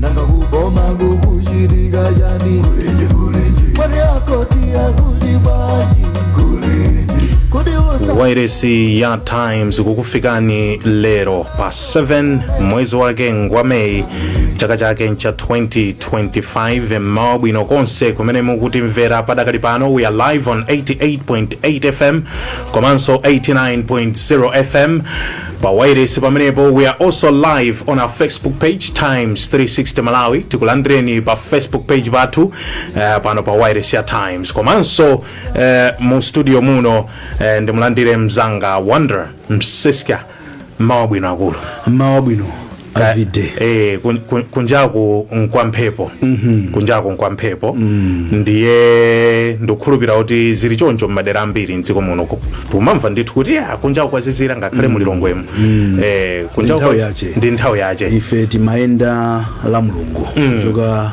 nanga kuboma kukuchitika chani mwaonjeza kuti akuti bwanji wairesi ya times kukufikani lero pa 7 mwezi wake ngwa meyi chaka chake ncha 2025 mmawa bwino konse kumene mukutimvera padakali pano we are live on 88.8 fm komanso 89.0 fm pawailesi pamenepo we are also live on our facebook page times 360 malawi tikulandireni pa facebook page pathu uh, pano pa wailesi ya times komanso uh, mu studio muno uh, ndimulandire mzanga wonder msiska mmawa wabwino akulu mmawa wabwino Ka- Avide. eh, kun- kun- kunjaku nkwa mphepo kunjaku nkwa mphepo ndiye ndikukhulupira kuti zili choncho m'madera ambiri mdziko muno tikumamva ndithu kuti "Ah, kunjaku kwazizira ngakhale mu Lilongwemu Eh, kunjaku kwa- ndi nthawi yache ife timayenda la mulungu kuchoka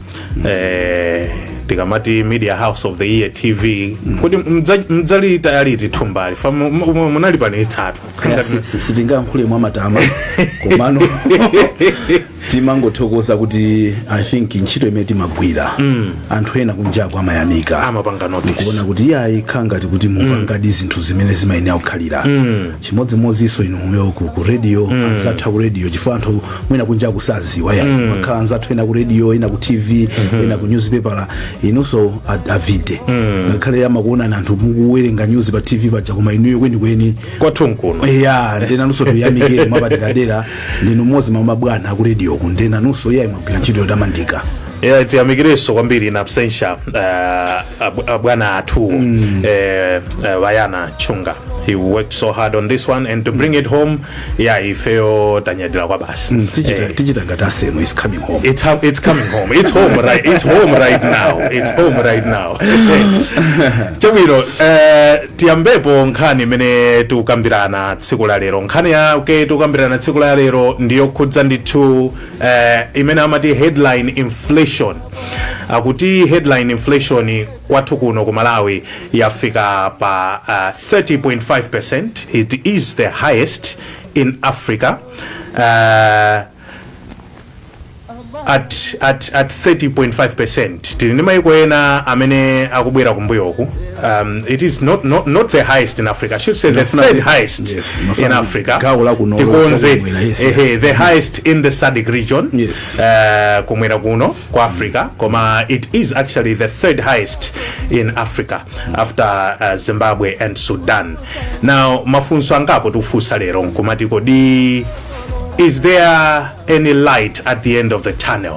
eh, tikamati media house of the year tv kuti mdza- mdzalitaya liti thumba la fa mu- mu- mu- munalipanitsatu Kaya si- si- sitingayankhule mwa matama komano timangothokoza kuti i think ntchito imene timagwira anthu ena kunjaku amayamikira amapanga notice kuona kuti iyayi akhala ngati kuti mukupangadi zinthu zimene zimayenera kukhala chimodzimodzinso inuyo ku ku radio anzathu ku radio chifukwa anthu mwina kunjaku sadziwa ya mm. amakhala anzathu ena ku radio ena ku tv mm-hmm. ena ku newspaper inunso a- avide mm. ngakhale amakuonani anthu mukuwerenga news pa tv paja koma inuyo kwenikweni kwanu nkuno ya ndiye nanunso tuyamikire mwapaderadera ndinu mmodzi mwa mabwana aku radio ku ndiye nanunso iyayi mwagwira ntchito yotamandika Yeah, tiyamikireso kwambiri in absentia uh, ab- abwana athu mm. uh, uh, vayana chunga he worked so hard on this one and to bring it home ya ifeyo tanyadira kwa basi tichita Eh, tichita ngati aSemo it's coming home It's, hum- it's coming home. It's home right. It's home right now. It's home right now. Chabwino, eh, tiyambepo nkhani imene tikukambirana tsiku la lero. Nkhani yake tikukambirana tsiku la lero ndiyokhudza ndithu eh, imene amati headline inflation. Akuti headline inflation kwathu kuno ku Malawi yafika pa uh, 30.5%. It is the highest in Africa. Uh, at, at, at 30.5% tili ndi maiko ena amene akubwera kumbuyoku um, it is not, not, not the highest in africa I should say the Inafuna- third highest yes, inafuna in africa gawo la kuno- tikonze kumwera, yes, ehe, the highest in the sadc region Yes. uh, kumwera kuno kwa africa koma it is actually the third highest in africa after uh, zimbabwe and sudan now mafunso angapo tikufunsa lero nkumati kodi is there any light at the end of the tunnel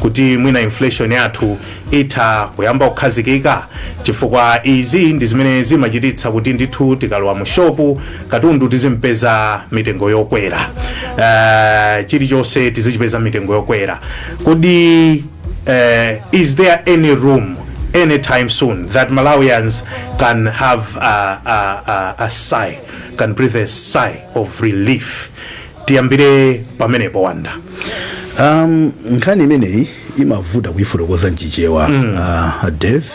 kuti mwina inflation yathu itha kuyamba kukhazikika chifukwa izi ndi zimene zimachititsa kuti ndithu tikalowa mu shopu katundu tizimpeza mitengo yokwera uh, chilichonse tizichipeza mitengo yokwera kodi eh, is there any room anytime soon that malawians can have a, a, a, a sigh can breathe a sigh of relief tiyambire pamenepo wanda um, nkhani imeneyi imavuta kuyifotokoza mchichewa mm. uh, dave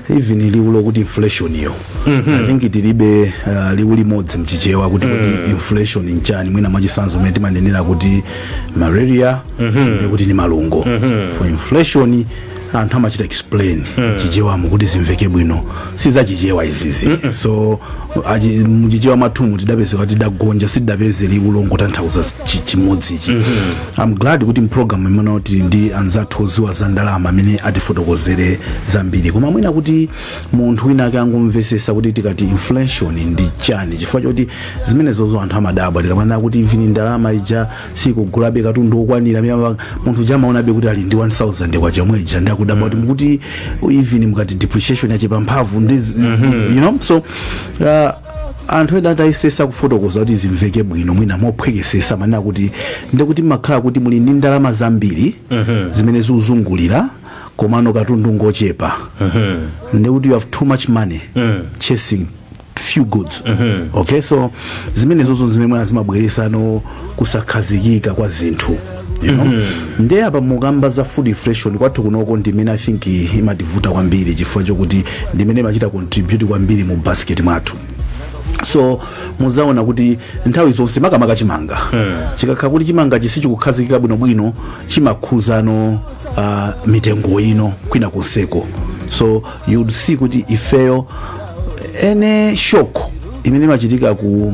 even liwu lokuti inflation yo i think tilibe uh, liwu limodzi mchichewa kuti kuti inflation nchani mwina mwachisanzo mene timanenera kuti malaria nde kuti ni malungo for inflation anthu amachita explain mchichewamo kuti zimveke bwino si za chichewa izizi so achi- muchichewa mwathumu tidapezeka kuti tidagonja sitidapeze liwu longotanthauza chi- chimodzichi I'm glad kuti mpulogalamu imeneyi tili ndi anzathu oziwa za ndalama amene atifotokozere zambiri koma mwina kuti munthu wina ake angomvesesa kuti tikati inflation ndi chani chifukwa choti zimenezozo anthu amadabwa tikamanena kuti even ndalama ija sikugulabe katundu okwanira miyamba munthu uja amaonabe kuti ali ndi 1000 kwacha yomwe ija nde akudabwa kuti mukuti even mukati depreciation yachepa mphamvu ndi you know so uh, anthu ena adayesesa kufotokoza kuti zimveke bwino mwina mophwekesesa amanena kuti ndekuti mumakhala kuti muli ndi ndalama zambiri zimene zikuzungulira komano katundu ngochepa ndekuti you have too much money chasing few goods okay so zimenezozo zimene mwina zimabweresano kusakhazikika kwa zinthu you know? nde apa mukamba za food inflation kwathu kunoko ndimene i think imativuta kwambiri chifukwa chokuti ndimene imachita contribute kwambiri mu basket mwathu so muzaona kuti nthawi zonse makamaka chimanga chikakhala kuti chimanga sichikukhazikika bwinobwino chimakhuzano uh, mitengo ino kwina konseko so you'd see kuti ifeyo any shock imene imachitika ku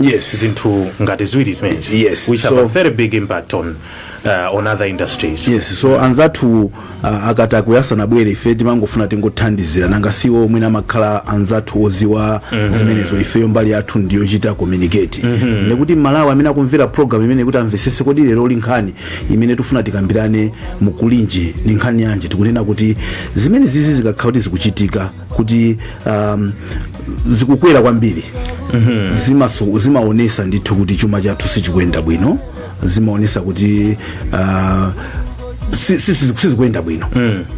yes zinthu ngati ziwiri zimenezi Yes, which so- have a very big impact on, uh, on other industries yes so anzathu uh, akati akuyasana bwere ife timangofuna tingothandizira nanga siwo mwina amakhala anzathu oziwa zimenezo ifeyo mbali yathu ndiyochita communicate ndikuti mmalawi amene akumvera program imeneyi kuti amvesese kodi leroli nkhani imene tifuna tikambirane mu kulinji ni nkhani yanji tikunena kuti zimenezizi zikakhala kuti zikuchitika kuti um, zikukwera kwambiri zimaso- zimaonesa ndithu kuti chuma chathu sichikuyenda bwino zimaonesa kuti uh, si- si- si- sizikuyenda bwino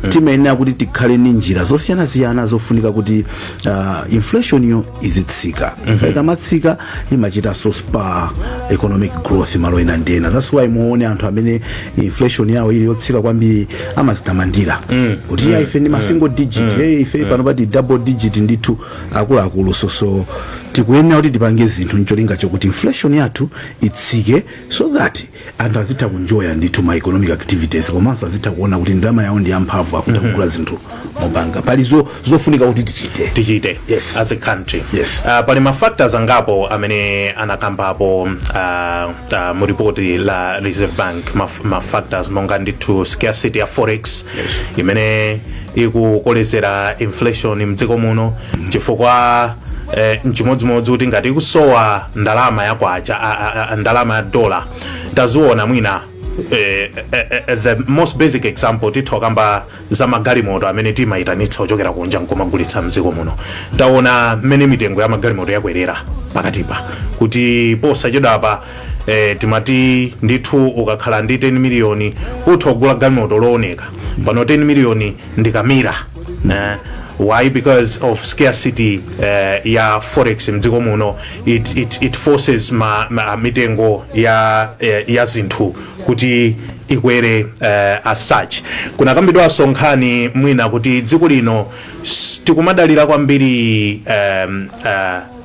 timayenera kuti tikhale ni njira zosiyanasiyana zofunika kuti uh, inflation yo izitsika mm -hmm. ikamatsika imachitanso spur economic growth malo ena ndi ena that's why muone anthu amene inflation yawo ili yotsika kwambiri amazitamandira kuti aa ife ndi ma single digit hey, ife pano pati double digit ndithu akuluakulu so so tikuyenera kuti tipange zinthu ncholinga chokuti inflation yathu itsike so that anthu azitha kunjoya ndithu ma economic activities komanso azitha kuona kuti ndalama yawo ndi yamphamvu akutha kugula zinthu mopanga pali zo- zofunika kuti tichite tichite Yes. as a country Yes. Ah, pali mafactors angapo amene anakambapo ah, ah, mu report la reserve bank maf- mafactors monga ndithu scarcity ya forex Yes. imene ikukolezera inflation mdziko muno chifukwa eh, nchimodzimodzi kuti ngati ikusowa ndalama ya kwacha a- a- a- ndalama ya dola taziona mwina eh, eh, eh, the most basic example titha kamba za magalimoto amene timayitanitsa kuchokera kunja nkumagulitsa mdziko muno taona mmene mitengo ya magalimoto yakwerera pakatipa kuti posachedwapa eh, timati ndithu ukakhala ndi 10 miliyoni utha kugula galimoto looneka pano 10 miliyoni ndi kamira eh, why because of scarcity eh, ya forex mdziko muno it, it, it forces ma, ma, mitengo ya, eh, ya zinthu kuti ikwere eh, as such kunakambidwanso nkhani mwina kuti dziko lino s- tikumadalira kwambiri um, uh,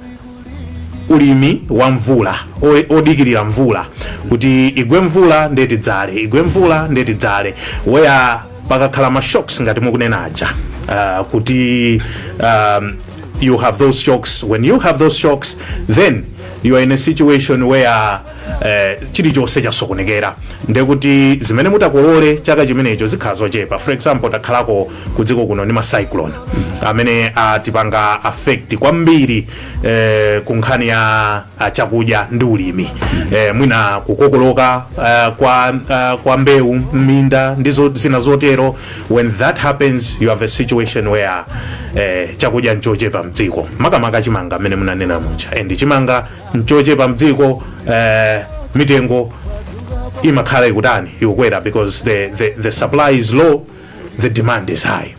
ulimi wa mvula o- odikirira mvula kuti igwe mvula ndiye tidzale igwe mvula ndiye tidzale where pakakhala ma shocks ngati mukunena aja uh, kuti um, you have those shocks when you have those shocks then you are in a situation where eh, chilichonse chasokonekera ndekuti zimene mutakolole chaka chimenecho zikhala zochepa for example takhalako ku dziko kuno ndi macyclone amene atipanga affect kwambiri eh, ku nkhani ya ah, chakudya ndi ulimi eh, mwina kukokoloka eh, kwa, ah, kwa mbewu m'minda ndi zo- zina zotero when that happens you have a situation where eh, chakudya nchochepa mdziko makamaka chimanga amene munanena muja and chimanga nchochepa mdziko eh, mitengo imakhala ikutani ikukwera because the, the, the supply is low the demand is high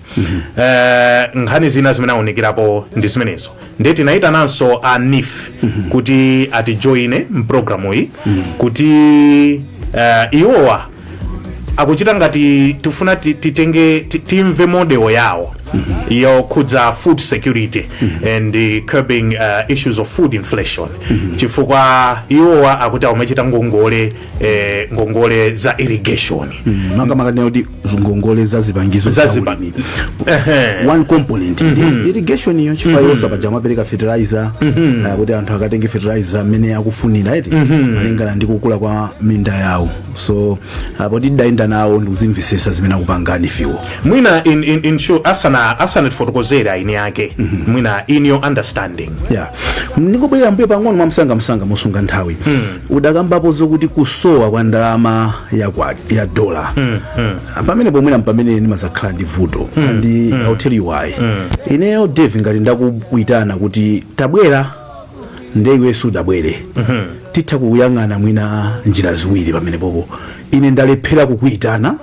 Eh, nkhani zina zimene aunikirapo ndi zimenezo ndiye tinayitananso a nif kuti atijoine mpulogalamu iyi kuti eh, iwowa akuchita ngati tifuna ti- titenge ti- timve model yawo yokhudza food security and uh, curbing uh, issues of food inflation chifukwa iwowa akuti amachita ngongole eh, ngongole za irrigation makamaka tinene kuti ngongole za zipangizo za Zaziba- ulimi. Ehe. one component ndi irrigation iyo chifukwa yonse paja amapereka fertilizer eh, kuti anthu akatenge fertilizer amene akufunira eti malingana ndi kukula kwa minda yawo so apo tidayenda nawo ndikuzimvesesa zimene akupanga NEEF iwo mwina in, in, in short, asana asanatifotokozere aini yake mwina in your understanding ya ndingobwerera m'mbuyo pang'ono mwamsangamsanga mosunga nthawi udakambapo zokuti kusowa kwa ndalama ya, kwa, ya dola pamenepo mwina mpamene ndimazakhala ndi vuto and I'll tell you why ineyo dave ngati ndakuitana kuti tabwera nde iwe sudabwere titha kuyang'ana mwina njira ziwiri pamenepopo ine ndalephera kukuitana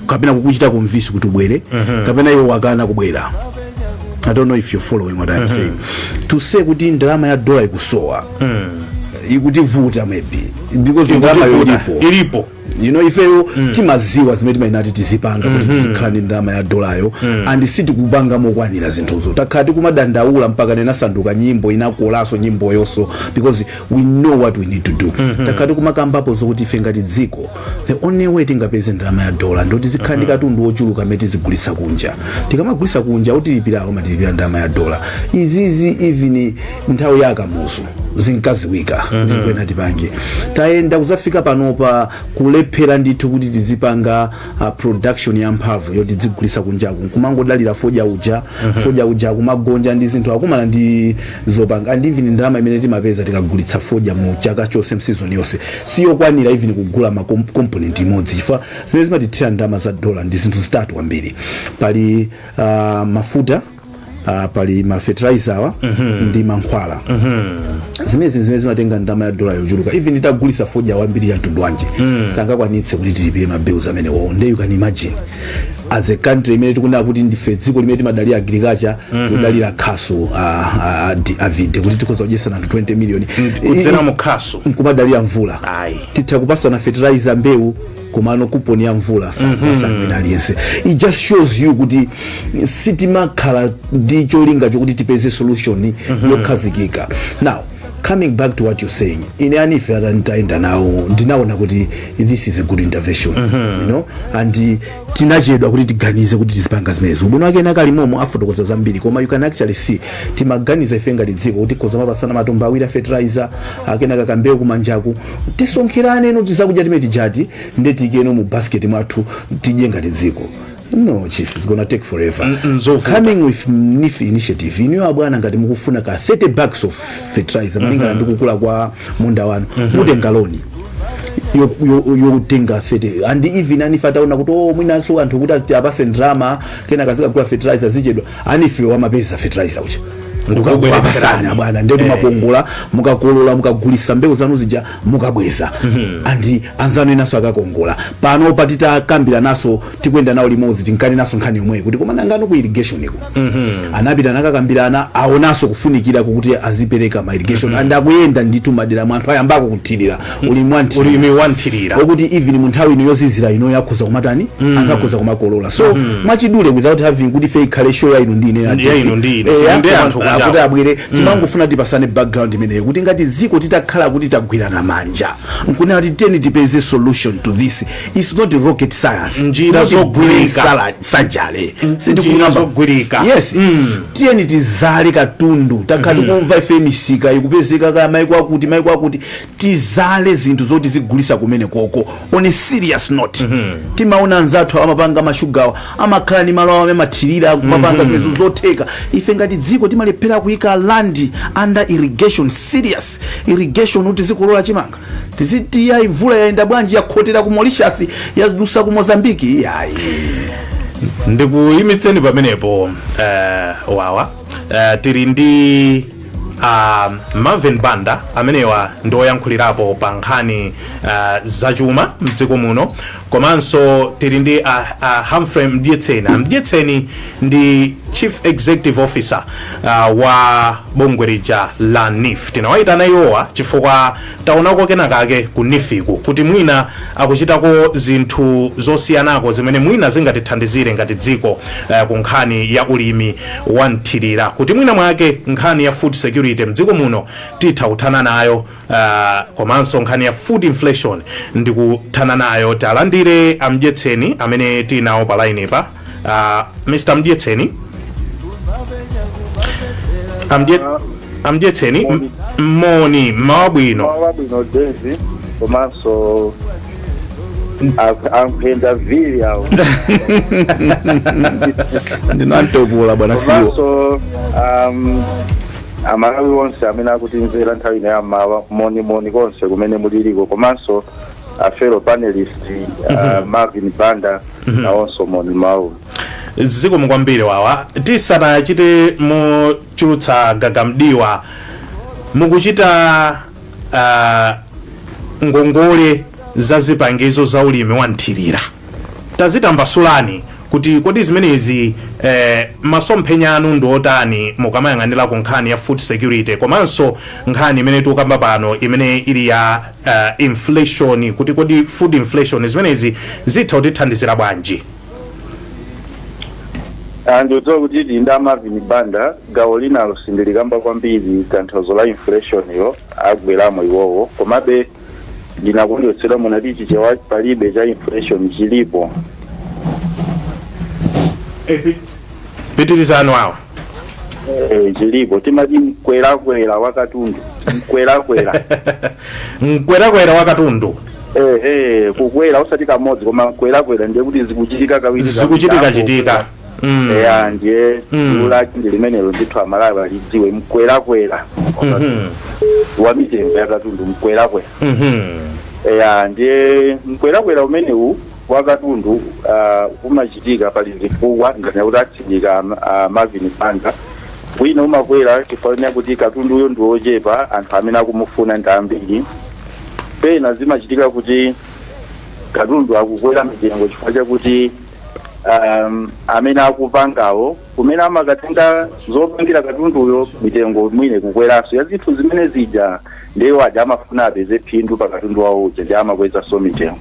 kapena kukuchita convince kuti ubwere kapena iwe wakana kubwera i don't know if you're following what i'm saying to say kuti ndalama ya dola ikusowa ikutivuta maybe because ndalama Ikutivuta. yolipo ilipo you know ifeyo timaziwa zimene timayenera kuti tizipanga kuti tizikhala ndi ndalama ya dolayo and sitikupanga mokwanira zinthuzo takhala tikumadandaula mpakana inasanduka nyimbo inakolanso nyimboyonso because we know what we need to do takhala tikumakambapo zokuti ife ngati dziko the only way tingapeze ndalama ya dola ndoti tizikhala ndi katundu wochuluka amene tizigulitsa kunja tikamagulitsa kunja otilipirawo amatilipira ndalama ya dola izizi even nthawi ya a Kamuzu zinkaziwika ndi pomwe tinati tipange tayenda kuzafika panopa kulephera ndithu kuti tizipanga uh, production ya mphamvu yoti tizigulitsa kunjaku nkumangodalira fodya uja fodya uja akumagonja ndi zinthu akumana ndi zokhoma and even ndalama imene timapeza tikagulitsa fodya mu chaka chonse mu season yonse siyokwanira even kugula ma kom- component imodzi chifukwa zimene zimatithira ndalama za dola ndi zinthu zitatu kwambiri pali uh, mafuta uh, pali mafertilizer awa ndi mankhwala zimenezi zimene zimatenga ndalama ya dola yochuluka even titagulitsa fodya wambiri wa mtundu wanji sangakwanitse kuti tilipire ma bills amenewo nde you can imagine as a country imene tikunena kuti ndife dziko limene timadalira agriculture kudalira khasu avide kuti tikhoza kudyesa anthu 20 million kudzera mu khasu nkumadalira mvula Ayi. titha kupasana fertilizer mbewu komano kuponi ya mvula sangawine aliyense it just shows you kuti sitimakhala ndi cholinga chokuti tipeze solution yokhazikika now coming back to what you're saying ine a NEEF nditayenda nawo ndinaona kuti this is a good intervention you know and eh, tinachedwa kuti tiganize kuti tizipanga zimenezo ubwino wake Nakari momo afotokoza zambiri koma you can actually see timaganiza ife ngati dziko kuti tikhoza kumapasana matumba awiri a fertilizer akenaka kambewu kumanjaku tisonkherane no tizakudya timene tijati nde tiikeno mu basket mwathu tidye ngati dziko no chief it's gonna take forever N- nzovuta. coming with neef initiative inuyo abwana ngati mukufuna ka 30 bags of fertilizer malingana ndi kukula kwa munda wanu mutenga loni yo- yo- yotenga 30 and even a neef ataona kuti o mwinanso anthu kuti aziti apase ndalama kenaka azikagula fertilizer zichedwa a neef-wo amapeza fertilizer uja ndikubweretserani abwana ndetu eh. mwakongola mukakolola mukagulisa mbewu zanu zija mukabweza mhm. andi anzanu enanso akakongola panopa titakambirananso tikuyenda nawo limozi tinkanenanso nkhani yomweyo kuti koma nangano ku irrigation iko mhm. anapita nakakambirana aonaso kufunikira kokuti azipereka ma irrigation mhm. and akuyenda nditu m'maderamu anthu ayambako kuthirira uli mwanti ulimi wamthirira okuti even mu nthawi ino yozizira ino akhoza kumatani mm. anthu akhoza kumakolola so mm -hmm. mwachidule without having kuti ife ikhale show ya inu ndi ine ya inu ndi ine eh, ndi anthu kuti abwere mm. timangofuna tipasane background imeneyo kuti ngati ziko titakhala kuti tagwirana manja nkunena kuti tiyeni tipeze solution to this it's not rocket science njira zogwirika sajale mm, sindikuna zogwirika yes mm. tiyeni tizale katundu takhala mm-hmm. tikumva mm -hmm. ife misika ikupezeka kumaiko akuti maiko akuti tizale zinthu zoti tizigulisa kumenekoko on a serious note timaona anzathu amapanga mashugawa amakhala ni malo awo amene amathirira kumapanga zimenezo zotheka ife ngati dziko timalephera kuyika land under irrigation serious irrigation kuti tizikolola chimanga tiziti yayi mvula yayenda bwanji yakhotera ku Mauritius yadusa ku Mozambique yayi ndikuyimitseni pamenepo eh, wawa eh, tiri ndi a marvin banda amenewa ndi oyankhulirapo pa nkhani uh, zachuma mdziko muno komanso tili ndi a, a humphrey mdyetseni amdyetseni ndi chief executive officer uh, wa bungwe lija la neef tinawayitana iwowa chifukwa Taonako kenakake ku NEEF-ku kuti mwina akuchitako zinthu zosiyanako zimene mwina zingatithandizire ngati dziko eh, ku nkhani ya ulimi wa mthirira kuti mwina mwake nkhani ya food security mdziko muno titha kuthana nayo ah, komanso nkhani ya food inflation ndi kuthana nayo. Tiwalandire a Mdyetseni amene tinawo pa line pa Uh, Mr. Mdyetseni Amdye, amdyetseni m- moni mmawa wabwino mmawa wabwino dezi komanso a- amphenda vili awo ndinamtopula bwana siwo komanso um, amalawi onse amene akutimvera nthawi ino yammawa moni moni konse kumene muliliko komanso a fellow panelist uh, Marvin Banda nawonso moni mawu zikomo kwambiri wawa tisanachite muchulutsa gagamdiwa mukuchita uh, ngongole za zipangizo za ulimi wa mthirira tazitambasulani kuti kodi zimenezi eh, masomphenya anu ndi otani mukamayang'anira ku nkhani ya food security komanso nkhani imene tikukamba pano imene ili ya uh, inflation kuti kodi food inflation zimenezi zitha kutithandizira bwanji Ah, ndikudziwa kuti tili nda a Marvin Banda gawo linalo sindilikamba kwambiri tanthauzo la inflation-yo agweramo iwowo komabe ndinakondwetsedwa munati chichewa palibe cha inflation chilipo pitirizani wawa Eh, chilipo timati mkwerakwera wakatundu mkwerakwera mkwerakwera wakatundu eh, eh, kukwera osati kamodzi koma mkwerakwera ndiye kuti zikuchitika kawiri zikuchitika chitika Mm. eya ndiye Mm. liwu lake ndi limenelo ndithu amalawi alidziwe mkwerakwera Mhm. wa mitengo yakatundu mkwerakwera Mhm. eya ndiye mkwerakwera umenewu wa katundu uh, umachitika pali zifukwa ngati kuti atsindika um, uh, Marvin Banda wina umakwera chifukwa chonena kuti katunduyo ndi wochepa anthu amene akumufuna ndi ambiri pena zimachitika kuti katundu akukwera mitengo chifukwa chakuti um, amene akupangawo kumene amakatenga zopangira katunduyo mitengo mwina ikukweranso ya zinthu zimene zija Ndiye iwo aja amafuna apeze phindu pa katundu wawo uja ndiye amakwezanso mitengo.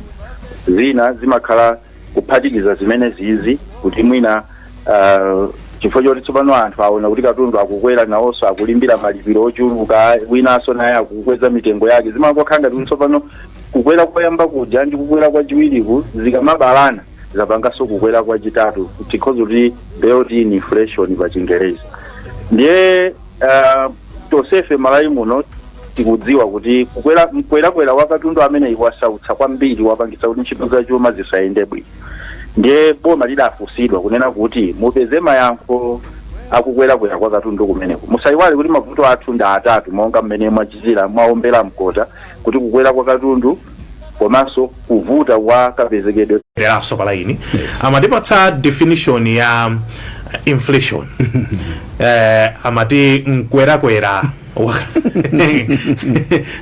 Zina zimakhala kuphatikiza zimenezizi kuti mwina ah, chifukwa choti tsopano anthu aona kuti katundu akukwera nawonso akulimbirira malipiro ochuluka winanso naye akukweza mitengo yake zimangokhala ngati kuti tsopano kukwera koyamba kuja ndi kukwera kwachiwiriku zikamabalana zapanganso kukwera kwachitatu tikhoza kuti built in inflation pa chingerezi ndiye ah, tonsefe Malawi muno tikudziwa kuti kukwera mkwerakwera wa katundu ameneyi wasautsa kwambiri wapangitsa kuti ntchito za chuma zisayende bwino ndiye boma lidafunsidwa kunena kuti mupeze mayankho akukwerakwera kwa katundu kumeneku musayiwale kuti mavuto athu ndi atatu monga mmene mwachitira mwaombera mkota kuti kukwera kwa katundu komanso kuvuta kwa kapezekedwe leronso pa laini Yes. amatipatsa definition ya um, inflation eh, amati mkwerakwera wa-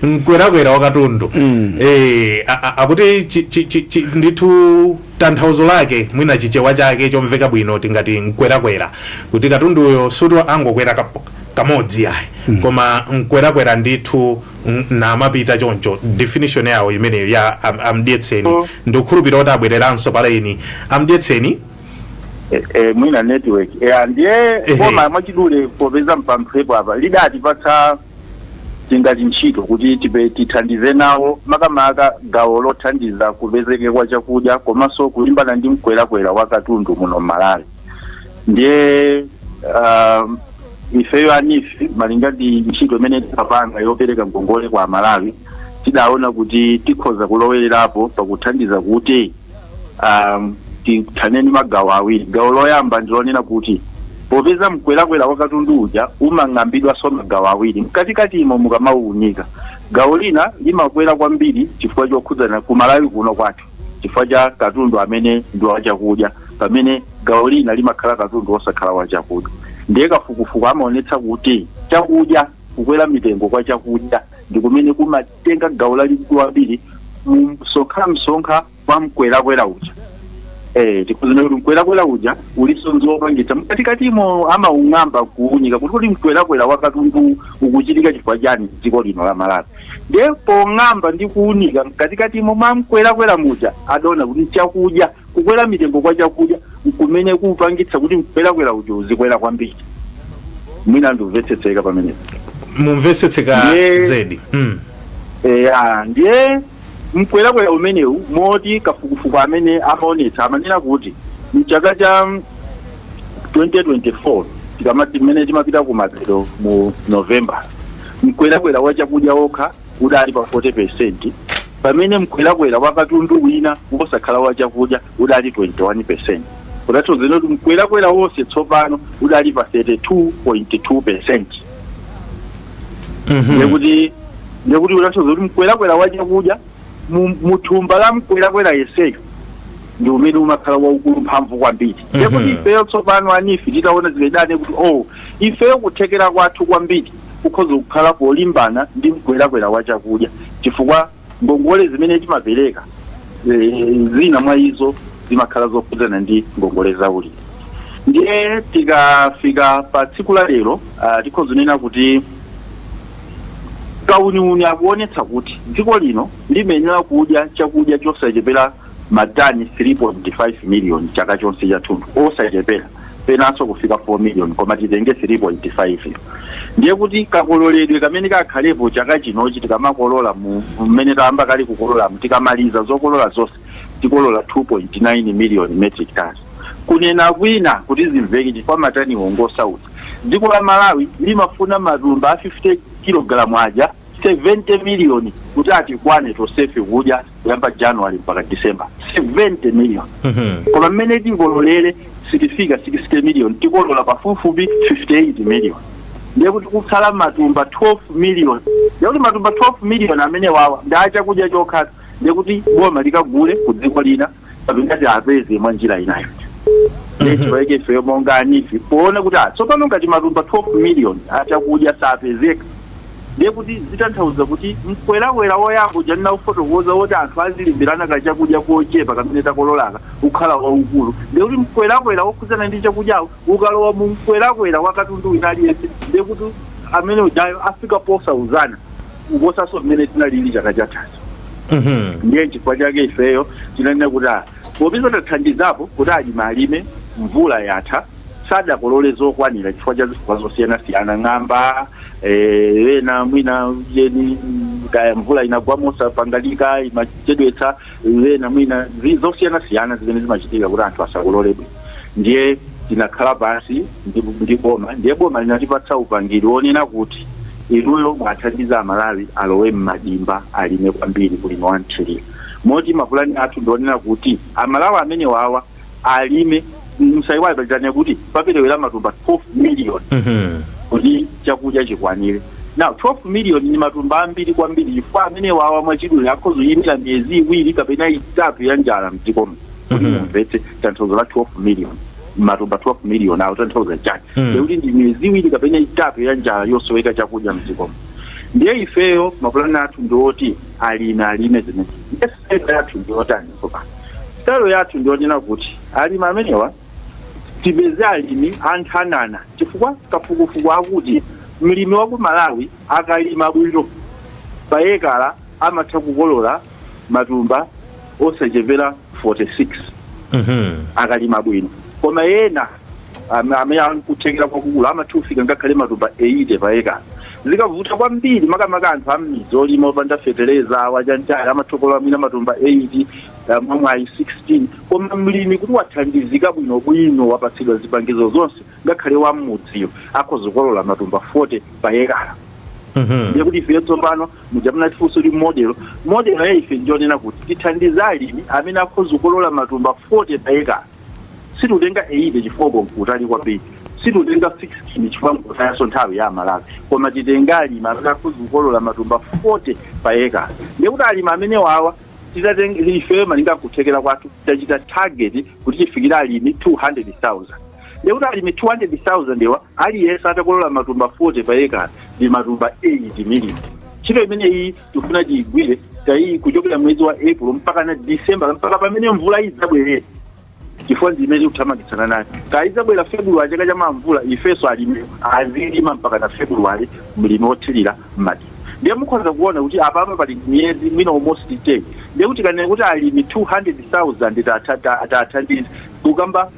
mkwerakwera wa katundu eh, a- a- akuti chi- chi- chi- chi- ndithu tanthauzo lake mwina chichewa chake chomveka bwino tingati mkwerakwera kuti katunduyo sikuti angokwera kap- kamodzi yayi koma mkwerakwera ndithu N- namapita choncho definition yawo imeneyo ya am, amdyetseni Mm. ndikukhulupirira kuti abwereranso pa laini amdyetseni Eh, eh, mwina network Eh, ah, ndiye Ehe. koma mwachidule popeza mpamphepo apa adatipatsa tingati ntchito kuti tithandize nawo makamaka gawo lothandiza kupezeke kwa chakudya komanso kulimbana ndi mkwerakwera wa katundu muno m'malawi ndiye um, ifeyo a NEEF malinga ndi ntchito imene timapanga yopereka ngongole kwa amalawi tidaona kuti tikhoza kulowererapo pakuthandiza kuti um, tithane ndi magawo awiri gawo loyamba ndilonena kuti popeza mkwerakwera wa katundu uja umang'ambidwanso magawo awiri mkatikati imo mukamauunika gawo lina limakwera kwambiri chifukwa chokhudzana kumalawi kuno kwathu chifukwa cha katundu amene ndi wachakudya pamene gawo lina limakhala katundu wosakhala wachakudya ndiye kafukufuku amaonetsa kuti chakudya kukwera mitengo kwa chakudya ndi kumene kumatenga gawo lalikulu kwambiri mumsonkhamsonkha wa mkwerakwera uja Eh, kunena kuti mkwerakwera uja uliso ndi zopangitsa mkatikatimo amaung'amba kuunika kuti kuti mkwerakwera wakatundu ukuchitika chifukwa chani mdziko lino la malawi Ndiye pong'amba ndi kuunika mkatikatimo mwa mkwerakwera muja, adaona kuti nchakudya. Kukwera mitengo kwa chakudya nkumene kupangitsa kuti mkwerakwera uja uzikwera kwambiri. Mwina ndimvetsetseka pamenepo. Mukumvetsetseka Ndiye- zedi mm. Eya, ndiye mkwerakwera umenewu moti kafukufuku amene amaonetsa amanena kuti mchaka cha mm, 2024 tikamati mmene timapita kumapeto mu november mkwerakwera wa chakudya wokha udali pa 40 peresenti pamene mkwerakwera wa katundu wina wosakhala wa chakudya udali 21 peresenti kutanthauza kuti mkwerakwera wonse tsopano udali pa 32.2 peresenti ndekuti ndekuti kutanthauza kuti mkwerakwera wa chakudya mu- mu thumba la mkwerakwera onsewo ndi umene umakhala waukulu mphamvu kwambiri ndekuti ifeyo tsopano a NEEF titaona zimenezo ndi kuti oh ifeyo kuthekera kwathu kwambiri kukhoza kukhala polimbana ndi mkwerakwera wa chakudya chifukwa ngongole zimene timapereka eh, zina mwa izo zimakhala zokhudzana ndi ngongole za ulimi ndiye tikafika pa tsiku la lero ah, tikhoza kunena kuti kauniuni akuonetsa kuti dziko lino limayenera kudya chakudya chosachepera matani 3.5 miliyoni chaka chonse chathunthu osachepera penanso kufika 4 million koma titenge 3.5 yo ndiye kuti kakololedwe kamene kakhalepo chaka chinochi tikamakolola mu mmene tayamba kale kukololamu tikamaliza zokolola zonse tikolola 2.9 million metric tons kunena kwina kuti zimveke chifukwa mataniwo ngosautsa dziko la malawi limafuna matumba a 50 kilogalamu aja 70 million kuti atikwane tosefe kudya kuyamba january mpaka december 70 million koma mmene tikololere sitifika 60 million tikolola pafupifupi 58 million ndiye kuti kutsala matumba 12 million ndiye kuti matumba 12 million amene wawa ndi achakudya chokha ndiye kuti boma likagule ku dziko lina kapena kuti apeze mwa njira inayo nde chifukwa chake ifeyo monga a NEEF poona kuti ah, tsopano ngati matumba 12 million achakudya sapezeka ndiye kuti zitanthauza kuti mkwerakwera woyamba uja ndinafotokoza woti anthu azilimbirana ka chakudya kochepa kamene takololaka ukhala waukulu ndiye kuti mkwerakwera wokhudzana ndi chakudyawo Ukalowa mu mkwerakwera wa katundu wina aliyense ndiye kuti amene udyayo afika posautsana kuposanso mmene zinalili chaka chathacho ndiye nchifukwa chake ifeyo tinanena kuti ah, popeza tathandizapo kuti alimi alime mvula yatha sadakolole zokwanira chifukwa cha zifukwa zosiyanasiyana ng'amba wena mwina jeni kaya mvula inagwa mosapangalika imachedwetsa ena mwina zi- zosiyanasiyana zimene zimachitika kuti anthu asakolole bwino ndiye tinakhala pansi ndi boma ndiye boma linatipatsa upangiri wonena kuti inuyo muwathandize amalawi alowe m'madimba alime kwambiri ulimi wa mthirira moti mapulani athu ndionena kuti amalawi amene wawa alime musaiwale pachitanja kuti paperewera matumba 12 million Mhm. kuti chakudya chikwanire now 12 million ni matumba ambiri kwambiri chifukwa amene wawa mwachidule akhozoyimira miyezi iwiri kapena itatu ya njala mdzikomo kuti Mhm. mumvetse tanthauzo la 12 million matumba 12 million awo tanthauza chani Mhm. ndekuti ndi miyezi iwiri kapena itatu ya njala yosoweka chakudya mdzikomo ndiye ifeyo mapulani athu ndiwoti alimi alime zimene yes sitayilo yathu ndiyotani tsopano sitayilo yathu ndiyonena kuti alimi amenewa tipeze alimi a nthanana chifukwa kafukufuku akuti mlimi wa ku malawi akalima bwino pa ekala amatha kukolola matumba osachepera 46 Mhm. akalima bwino koma ena am- amene ali kuthekera kwakukulu amatha kufika ngakhale matumba 80 pa ekala zikavuta kwambiri makamaka anthu am'midzi olima opanda fetereza wachanichani amathokolola mwina matumba 8 mwamwayi 16 koma mlimi kuti wathandizika bwinobwino wapatsidwa zipangizo zonse ngakhale wa m'mudziyo akhoza kukolola matumba 40 pa ekala ndiye kuti ife tsopano muja munatifunsa kuti modelo modelo ya ife njonena kuti tithandize alimi amene akhoza kukolola matumba 40 pa ekala situtenga 80 chifukwa uko nkutali kwambiri situtenga 16 chifukwa nkutayanso nthawi ya aMalawi koma titenga alimi amene akhoza kukolola matumba 40 pa ekala ndiye kuti alimi amene wawa titatenga ifeyo malinga nkuthekera kwathu tachita target kuti tifikire alimi 200000 ndiye kuti alimi 200000 ewa aliyense atakolola matumba 40 pa ekala ndi matumba 8 million ntchito imeneyi tifuna tiyigwire tayi kuchokera mwezi wa april mpaka na december mpaka pamene mvula idzabwerere chifukwa ndi imene tikuthamangitsana nayo kaya idzabwera february chaka cha mawa mvula ifenso alimi azilima mpaka na february mlimi wothirira mati ndiye mukhoza kuona kuti apapa pali miyezi mwina almost 10 ndiye kuti kanene kuti alimi 200000 atathandiza kukamba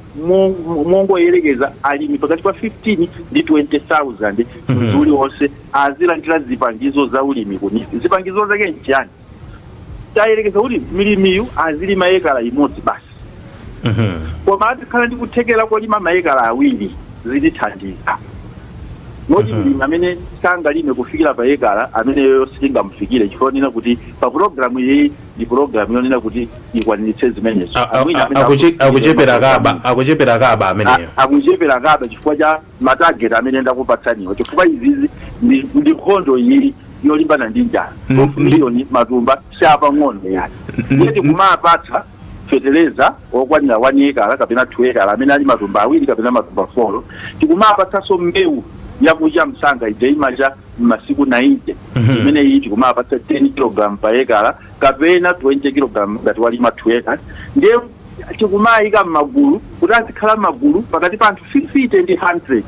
mongoyerekeza alimi pakati pa 15 ndi 20,000 mwezi uliwonse azilandira zipangizo za ulimi kuni zipangizo zake nchiyani tiyerekeze kuti mlimiyu azilima ekala imodzi basi koma atakhala ndi kuthekera kolima maekala awiri zitithandiza moti mlimi amene sangalime kufikira pa ekala ameneyo sitingamufikire chifukwa ndinena kuti pa pulogalamu iyi ndi program yonena kuti ikwaniritse zimenezo A- a- Amwina a- amene akuche- akuchitira akuchepera maprogram kaba ino. akuchepera kaba ameneyo A- akuchepera kaba chifukwa cha matageti amene ndakupatsaniwa chifukwa izizi ndi ndi nkhondo iyi yolimbana ndi njala Mm, of ndi- miliyoni matumba siapang'ono yani Mm, ndiye tikumapatsa fetereza okwanira one ekala kapena two ekala amene ali matumba awiri kapena matumba folo tikumapatsanso mbewu yakucha msanga ija imacha masiku 90 Mhm. imene iyi tikumapatsa 10 kg pa ekala kapena 20 kg ngati walima 2 ekala ndiye tikumayika m'magulu kuti azikhala m'magulu pakati pa anthu 50 ndi 100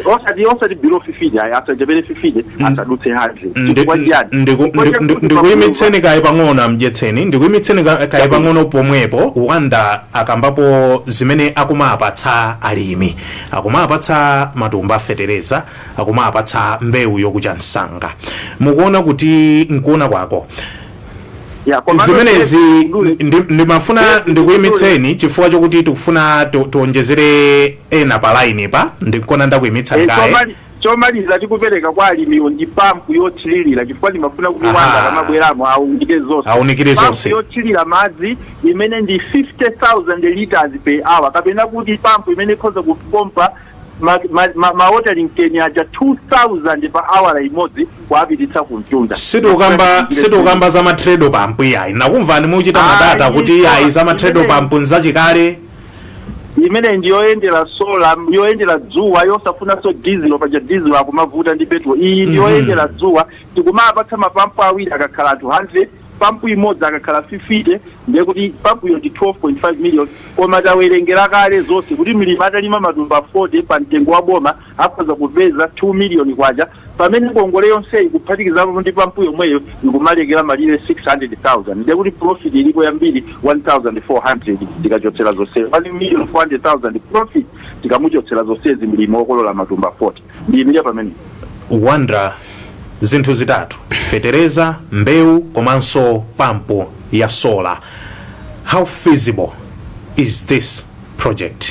osati osati below 50 ayi asachepere 50 asadutse 100 Ndi- chifukwa chiyani ndiku- Chifukwa ndiku- chakuti ndiku- ndikuyimitseni kaye pang'ono amdyetseni ndikuyimitseni ka- kaye pang'ono pomwepo wanda akambapo zimene akumapatsa alimi akumapatsa matumba a fetereza akumawapatsa mbewu yokucha msanga mukuona kuti mkuona kwanu Ya, kwa maana- zimenezi ndi- ndimafuna ndikuyimitseni chifukwa chokuti tikufuna ti- tiwonjezere ena pa line pa ndikona ndakuyimitsa Eh, kaye chomali- chomaliza tikupereka kwa alimiwo ndi pampu yothirira chifukwa ndimafuna kuti Aha. wanda akamabweramo aunikire zonse Aunikire Pampu zonse. yothirira madzi imene ndi 50000 liters per hour kapena kuti pampu imene ikhoza kupompa ma, ma, ma, ma watering can aja 2000 pa hour imodzi kuapititsa ku mtunda sitikukamba sitikukamba za matredo pampu iyayi nakumvani muchita Ayi, madata kuti iyayi so- za matredo imene- pampu nzachikale imene ndi yoyendera sola yoyendera dzuwa yosafunanso dizilo paja dizilo akumavuta ndi petrol iyi ndi yoyendera dzuwa tikumapatsa mapampu awiri akakhala anthu 100 pampu imodzi akakhala 50 ndiye kuti pampuyo ndi 12.5 million koma tawerengera kale zonse kuti mlimi atalima matumba 40 pa mtengo wa boma akhoza kupeza 2 million kwacha pamene ngongole yonseyi kuphatikizapo ndi pampu yomweyo ikumalekera malire 600,000 ndiye kuti profit ilipo yambiri 1400 tikachotsera zonse 1,400,000 profit tikamuchotsera zonsezi mlimi wokolola matumba 40 ndiyimira pamene wonder zinthu zitatu fetereza mbewu komanso pampu ya sola how feasible is this project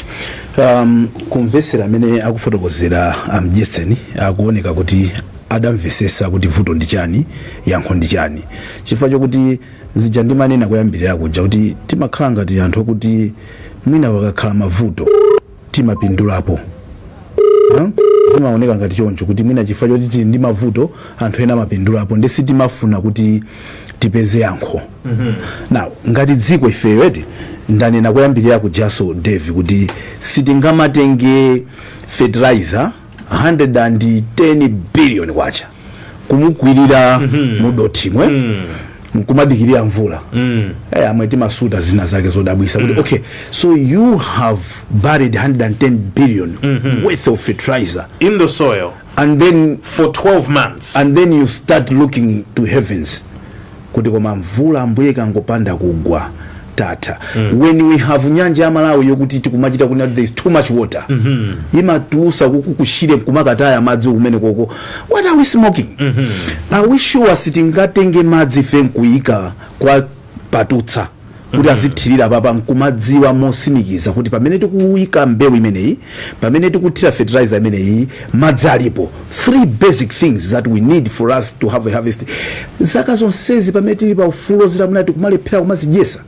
um, kumvesera amene akufotokozera a mdyetseni akuoneka kuti adamvesesa kuti vuto ndi chani yankho ndi chani chifukwa chokuti zija ndimanena kuyambirira kuja kuti timakhala ngati anthu okuti mwina pakakhala mavuto timapindulapo Huh? zimaoneka ngati choncho kuti mwina chifukwa choti tili ndi mavuto anthu ena amapindulapo nde sitimafuna kuti tipeze yankho now ngati dziko ifeyo eti ndanena kuyambirira kujaso davie kuti sitingamatenge fertilizer 110 billion kwacha kumukwirira mm -hmm. mudothimwe mm. nkumadikirira mvula mm. hey, eh, amwe timasuta zina zake zodabwisa mm. okay so you have buried 110 billion mm -hmm. worth of fertilizer in the soil and then for 12 months and then you start looking to heavens kuti koma mvula ambuye ikangopanda kugwa tatha mm. when we have nyanja ya malawi yokuti tikumachita kunena there is too much water mm -hmm. imatulusa ku ku shire nkumakataya madzi kumenekoko what are we smoking mm -hmm. are we sure sitingatenge madzi ife nkuyika kwa patutsa kuti azithirira apapa nkumadziwa mosimikiza kuti pamene tikuyika mbewu imeneyi pamene tikuthira fertilizer imeneyi madzi alipo three basic things that we need for us to have a harvest zaka zonsezi pamene tili pa ufulu wodzilamulira tikumalephera kumazidyesa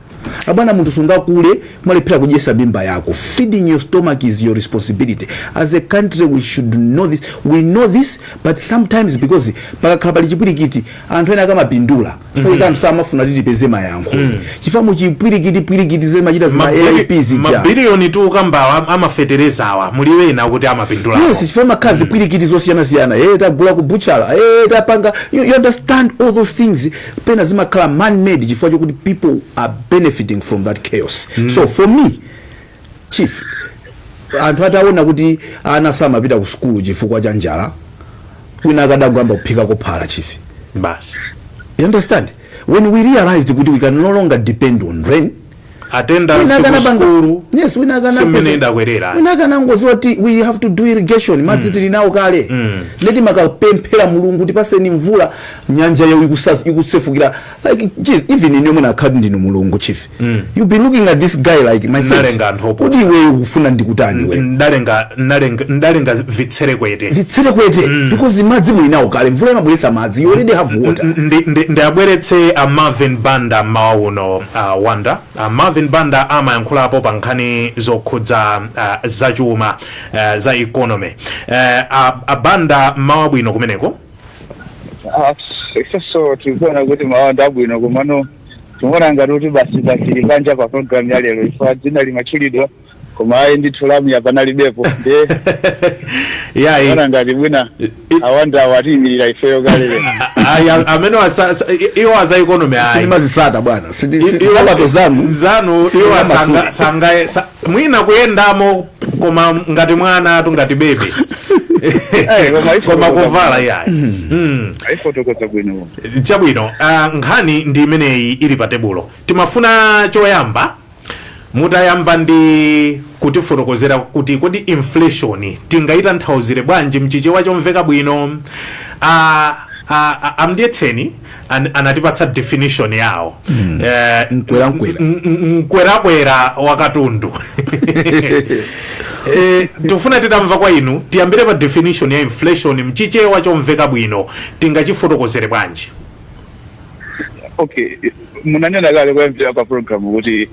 abwana munthu sungakule kumalephera kudyesa mimba yako feeding your stomach is your responsibility as a country we should know this we know this but sometimes because pakakhala pali chipwirikiti anthu ena akamapindula chifukwa anthu samafuna kuti tipeze mayankho chifukwa muchipwirikiti pwirikiti zimachita zima aip zija mabiliyoni tikukambawa a mafeterezawa muli ena okuti amapindulako yes chifukwa mumakhala zipwirikiti zosiyanasiyana eh tagula ku butchala eh tapanga you, you understand all those things pena zimakhala man made chifukwa chokuti people are benefiting from that chaos so for me Chief, anthu ataona kuti ana samapita ku sukulu chifukwa cha njala, wina akadangoyamba kuphikako phala chief. Basi. You understand? When we realized kuti we can no longer depend on rain, attendance ku sukulu yes wina kana si mmene idakwerera wina akanangodziwa kuti we have to do irrigation mm. madzi tili nawo kale mm. nde timakapemphera mulungu tipaseni mvula nyanjayo ikusefukira like geez even inuyo mutakhala ndinu mulungu chief mm. you be looking at this guy like my friend kuti iwe ukufuna ndikutani we ndalenga ndalenga ndalenga vitsiru kwete vitsiru kwete mm. because madzi muli nawo kale mvula imabweretsa madzi you already have water ndiwabweretse a Marvin Banda mawa uno uh, wanda uh, Marvin Banda amayankhulapo pa nkhani zokhudza uh, zachuma uh, za economy uh, a, a Banda mawa bwino kumeneko Ah, ifenso tikuona kuti mawa ndi abwino komano tikuona ngati kuti basi tikadali panja pa programu ya lero ife dzina limatchulidwa koma ayi ndithu lamuya panalibepo ndiye yayi tikuona ngati bwana a Wanda awatiyimirira ifeyo kale lero ayi a- amene wasa- sa- i- iwo aza economy ayi sindimazitsata bwana I- iwo- nsapato zanu zanu sindimasuka. iwo asanga- sangaye- sa- mwina kuyendamo koma ngati mwanatu ngati bebe Eh, koma ife koma tikukamba. kuvala yayi Mm. aifotokoza bwino chabwino ah, nkhani ndi imeneyi ili pa tebulo timafuna choyamba mutayamba ndi kutifotokozera kuti kodi inflation tingayitanthauzire bwanji mchichewa chomveka bwino ah, ah, ah, a Mdyetseni an, anatipatsa definition yawo mm. eh, mkwerakwera mkwerakwera wa katundu eh, tifuna titamva kwa inu tiyambire pa definition ya inflation mchichewa chomveka bwino tingachifotokozere bwanji okay munanena kale koyambirira kwa program kuti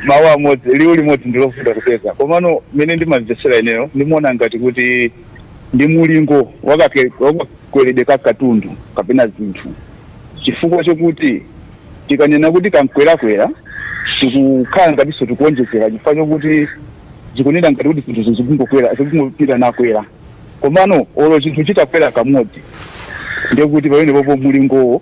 mawu amodzi liwu limodzi ndilovuta kupeza komano mene ndimamvetsera ineyo ndimaona ngati kuti ndi mulingo wa kake kakweredwe ka katundu kapena zinthu chifukwa chokuti tikanena kuti kamkwerakwera tikukhala ngatinso tikuonjezera chifukwa chokuti zikunena ngati kuti zinthu zizingokwera zikungopitirira nakwera komano olo chinthu chitakwera kamodzi ndekuti pamenepopo mulingowo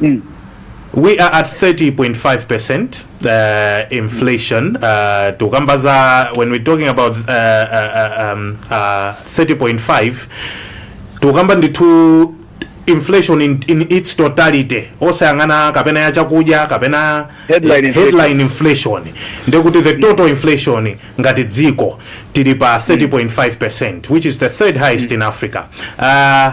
mm. we are at 30.5 percent uh, inflation uh, tukamba za when we're talking about uh, uh, uh, um, uh, 30.5 tukamba ndithu inflation in, in its totality osayang'ana kapena ya chakudya kapena Headline eh, inflation. headline inflation ndekuti the total inflation ngati dziko tili pa 30.5 percent which is the third highest in africa uh,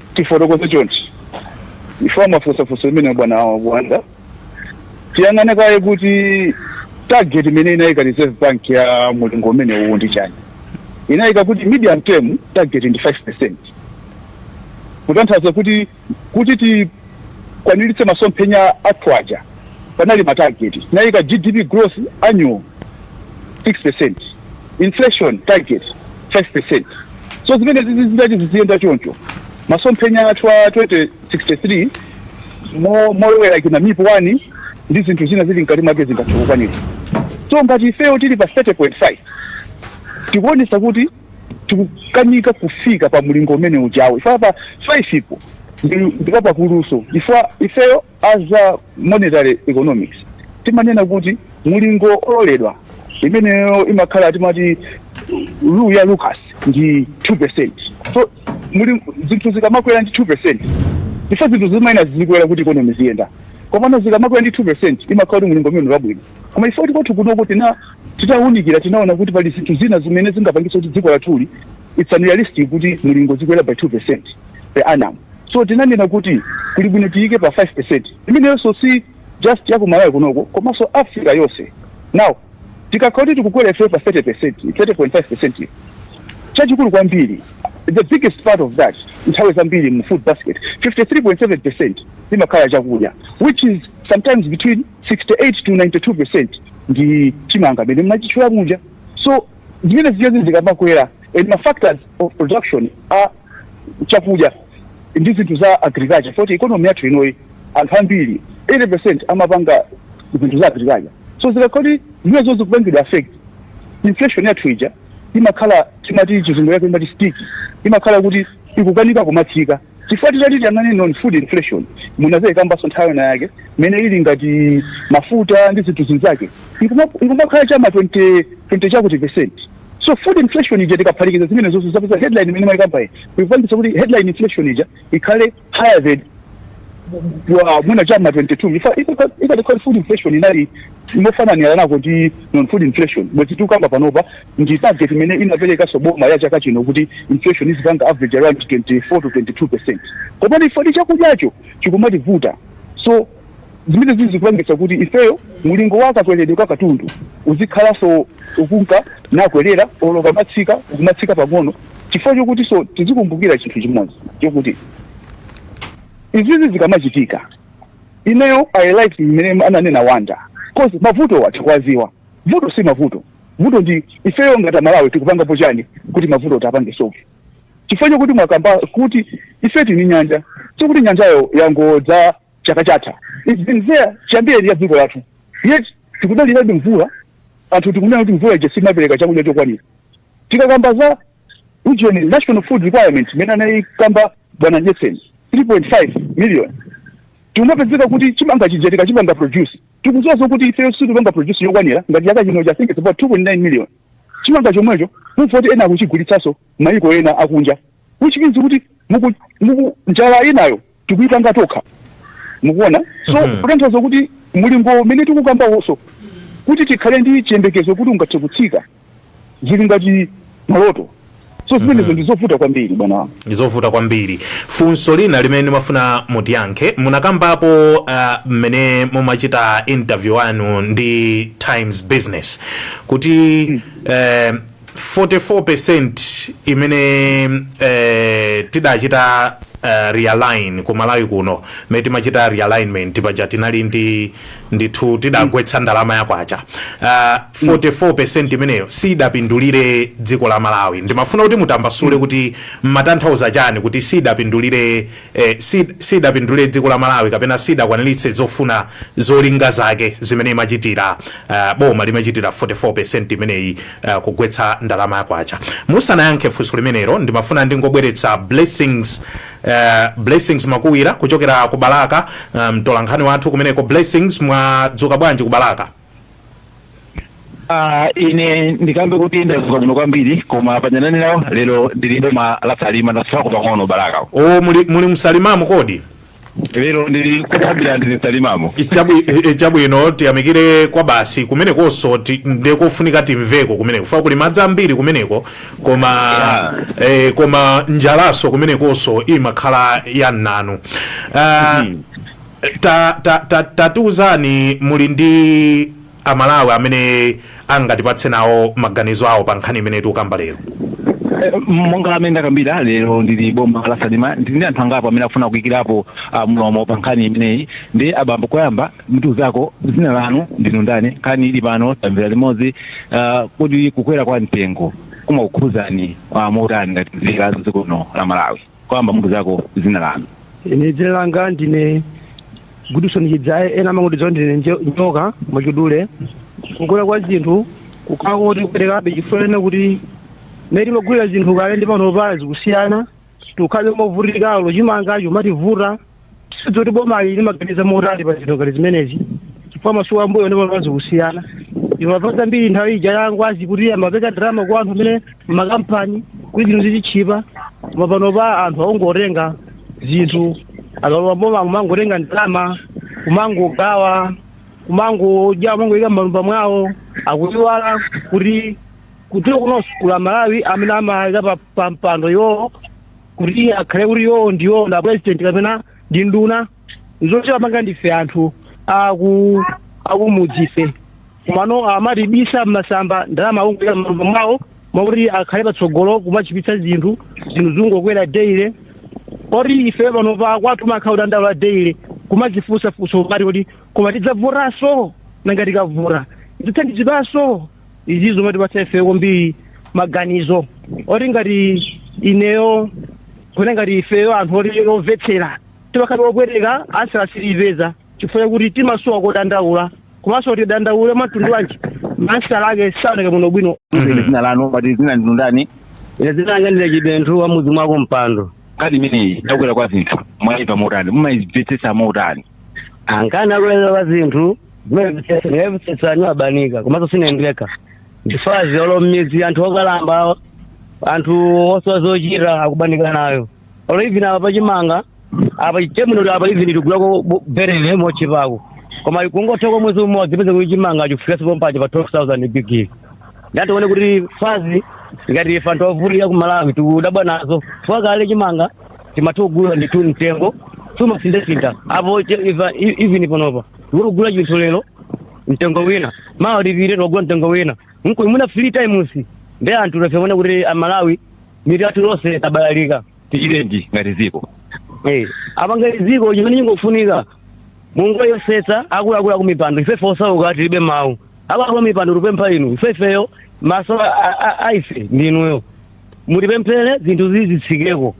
Tifotokoze chonchi chifukwa mwafunsa funso limene bwana Wanda, tiyang'ane kaye kuti target imene inayika Reserve Bank ya mulingo umene uwu ndi chani. Inayika kuti medium term target ndi 5%, kutanthauza kuti kuti tikwaniritse masomphenya athu aja panali ma target. Inayika GDP growth annual 6% inflation target 5% so zimenezi zizi zitati ziziyenda choncho masomphenya athu a 2063 mo- molowera kena mip 1 ndi zinthu zina zili mkati mwake zingathe kukwanika so ngati ifeyo tili pa 30.5 tikuonesa kuti tikukanika kufika pa mlingo umene ujawo ifeyo pa 5 ipo ndi- ndipo pakuluso ifeyo a za monetary economics timanena kuti mulingo ololedwa imeneyo imakhala timati rule ya lucas ndi 2 percent so zinthu zikamakwera ndi 2 percent ife zinthu zimayenera zizikwera kuti economy ziyenda komano zikamakwera ndi 2 percent imakhala kuti mulingo umene wabwino koma ife kwathu kunoko tina titawunikira tinaona kuti pali zinthu zina zimene zingapangitse kuti dziko lathuli it's unrealistic kuti mulingo zikwera by 2 percent per annum So tinanena kuti kuli bwino tiyike pa 5%. Imeneyonso si just ya Malawi kunoko komanso Africa yonse. Now tikakhala kuti tikukwera ifeyo pa 30%, 30.5% yo, chachikulu kwambiri, the biggest part of that nthawi zambiri mu food basket, 53.7% imakhala chakudya which is sometimes between 68 to 92% ndi chimanga mmene mumachitchula muja. So zimene zija zikamakwera and ma factors of production are chakudya ndi zinthu za agriculture poti economy yathu inoyi anthu ambiri 80 percent amapanga zinthu za agriculture so zikakhala kuti zimene zikupangidwa affect inflation yathu ija imakhala timati chizungu yake imati sticky imakhala kuti ikukanika kumatsika chifukwa tikati tiyang'ane non food inflation munadzakambanso nthawi inayake imene ili ngati mafuta ndi zinthu zinzake Ikuma- ikumakhala chama 20 20 chakuti percent so food inflation ija tikaphatikiza zimene zonse timapeza headline imene mwaikamba iyi ikupangitsa kuti headline inflation ija ikhale higher than wa mwina chama 22 ifa ifa- ikadakhala food inflation inali imofananira nayo ndi non food inflation bwezi tikukamba panopa ndi target imene inaperekanso boma ya chaka chino kuti inflation izipanga average around 24 to 22 percent komano ife ndi chakudyacho chikumativuta so zimenezi zikupangitsa kuti ifeyo mulingo wa kakweredwe ka katundu uzikhalanso ukunka nakwerera olo ukamatsika ukumatsika pang'ono chifukwa chokutinso tizikumbukira chinthu chimodzi chokuti izizi zikamachitika ineyo i like mmene ananena wanda cause mavuto tikuwadziwa vuto si mavuto vuto ndi ifeyo ngati amalawi tikupangapo chani kuti mavuto tiwapange solve chifukwa chakuti mwakamba kuti ife tini nyanja sikuti nyanjayo yangodza chaka chatha It's been there chiyambireni ya dziko lathu yet tikudalirabe mvula anthu tikunena kuti mvula ija simapereka chakudya chokwanira tikakamba za ujeni national food requirement imene anayikamba bwana jesen 3.5 million tikumapezeka kuti chimanga chija tikachipanga produce tikudziwa zokuti ifeyo sitipanga produce yokwanira ngati chaka chino cha think it's about 2.9 million chimanga chomwecho mumva kuti ena akuchigulitsanso mayiko ena akunja which means kuti muku, muku njala inayo tikuyipanga tokha mukuona so mm -hmm. kutanthauza kuti mulingo umene tikukambawonso kuti tikhale ndi chiyembekezo kuti ungathe kutsika zili ngati maloto so zimenezo ndizovuta kwambiri bwana wangu ndizovuta kwambiri funso lina limene ndimafuna mutiyankhe munakambapo ah, mmene mumachita interview anu ndi times business kuti eh, 44 imene eh, tidachita eh, realign ku malawi kuno mmene timachita realignment paja tinali ndi ndithu tidagwetsa ndalama ya kwacha uh, ah, 44 mm. imeneyo siidapindulire dziko la malawi ndimafuna kuti mutambasule mm. kuti mumatanthauza chani kuti siidapindulire eh, siidapindulire dziko la malawi kapena siidakwaniritse zofuna zolinga zake zimene imachitira uh, boma limachitira 44 imeneyi uh, kugwetsa ndalama ya kwacha musanayankhe funso limenelo ndimafuna ndingobweretsa blessings Uh, blessings makuwira kuchokera ku balaka mtolankhani um, wathu kumeneko blessings mwadzuka bwanji ku balaka Ah, ine ndikambe kuti ndadzuka bwino kwambiri koma pang'onong'ono lero ndili boma la salima ndasiyako pang'ono balaka o muli, muli msalimamo kodi lero ndili ku salima ndili salimamo Ichabu- eh, chabwino tiyamikire kwabasi kumenekonso ti- nde kofunika timveko kumeneko fa kuli madzi ambiri kumeneko koma Yeah. eh, koma njalanso kumenekonso imakhala yamnanu Ah, ta- ta- ta- tatiuzani muli ndi amalawi amene angatipatse nawo maganizo awo pa nkhani imene tikukamba lero Eh, monga mmene ndakambira lero ndili boma la salima ndili ndi anthu angapo amene akufuna kuyikirapo ah, mlomo pa nkhani imeneyi ndi abambo koyamba mutiuzeko dzina lanu ndinu ndani nkhani ili pano tamvera limodzi ah, kuti kukwera kwa mtengo kumakukhuzani motani ngati nzika za dziko lino la malawi koyamba mutiuzeko dzina lanu ine dzina langa ndine gudison chidzaye ena amangondidziwa ndine njo- njoka mwachidule kukwera kwa zinthu kukhala kuti kuperekabe chifukwa chonena kuti mmene timagulira zinthu kale ndi pano pano zikusiyana tikukhalabe movutika olo chimangacho chumativuta sizoti bomali limaganiza motali pa zinthu ngati zimenezi chifukwa masuku ambuyo ndi pano zikusiyana imapha zambiri nthawi ija ya Ngwazi kuti amapereka ndalama kwa anthu amene makampani kuti zinthu zizitchipa koma panopa anthu akungotenga zinthu akalowa m'boma kumangotenga ndalama kumangogawa kumangodya kumangoyika m'matumba mwawo akuiwala kuti kudziko kuno kuli aMalawi amene amawayika pa, pa mpando iwowo kuti akhale kuti iwowo ndi iwowo ma president kapena ndi nduna za chiyani wayika ndife anthu aku akumudzife koma ano amatibisa mmasamba ndalama akungoyika m'matumba mwawo mwakuti akhale patsogolo kumatchipitsa zinthu zinthu zingokwera daily moti ife panopa kwathu kumakhala kudandaula daily kumadzifunsa funso ngati kuti koma tidzavotanso nanga tikavota tidzathandizidwanso izi zimatipatsa ife kwambiri maganizo oti ngati ineyo kuti ngati ifeyo anthu oti ovutika timakhala opweteka answer sitiyipeza chifukwa chakuti timasowa kodandaula komanso tidandaule mwamtundu wanji ma answer ake saoneka bwinobwino Ine dzina lanu mwati dzina ndinu ndani ine dzina langa ndine chibenthu wa mudzi mwa Kompando nkhani imeneyi yakukwera kwa zinthu mwayimva motani mumayimvetsetsa motani nkhani yakukwera kwa zinthu ikuvutitsa anthu abanika komanso sinendeka ndifazi olo mmidzi anthu okalamba anthu osowa zochita akubanika nayo olo even apa pachimanga apa chenicheni apa even tikugulako bu- berele mochipako koma kungotha kwa mwezi umodzi kupezeka kuti chimanga chafikanso pompaja pa 12000 bigiri ndiye tione kuti fazi ngati ife anthu ovutika ku malawi tikudabwa nazo chifukwa kale chimanga tinkatha kugula ndithu mtengo sumasindasinda apo che- iva- i- even panopa tikugula chinthu lero mtengo wina mawa tipite tikagula mtengo wina mkuja mwina three times ndiye anthu taona kuti amalawi mitu yathu tonse tabalalika tichitenji ngati dziko Eh, apa ngati dziko chimene chingofunika mungoyesetsa akuluakulu akumipando ifefe osauka tilibe mawu akuluakulu akumipando tupempha inu ifefeyo maso a- a- a- aife ndinuyo mutipemphere zinthu zizitsikeko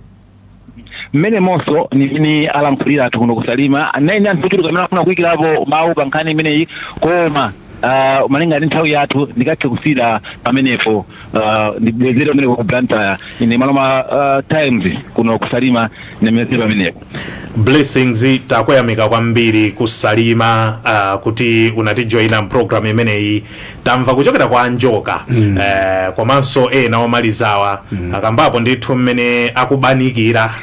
mmenemonso ndi mmene alankhulira anthu kuno kusalima ndiye ndi anthu ochuluka amene afuna kuyikirapo mawu pa nkhani imeneyi koma ah, malinga ndi nthawi yathu ndikathe kusiyira pamenepo ah, ndibwezere pamenepo ku blantyre ine Maloma ah, times kuno kusalima ndibwezere pamenepo blessings takuyamika kwambiri kusalima uh, kuti unatijoyina mpulogalamu imeneyi tamva kuchokera kwa a Njoka mm. eh, komanso ena omalizawa mm. akambapo ndithu mmene akubanikira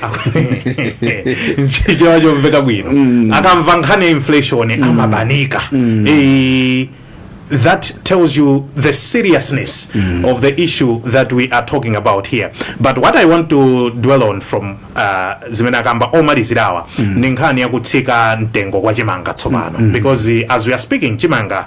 nchichewa chomveka bwino mm. akamva nkhani ya inflation mm. amabanika mm. e, that tells you the seriousness mm. of the issue that we are talking about here but what i want to dwell on from uh, zimene akamba omalizirawa mm. ndi nkhani yakutsika mtengo kwa chimanga tsopano mm. because uh, as we are speaking chimanga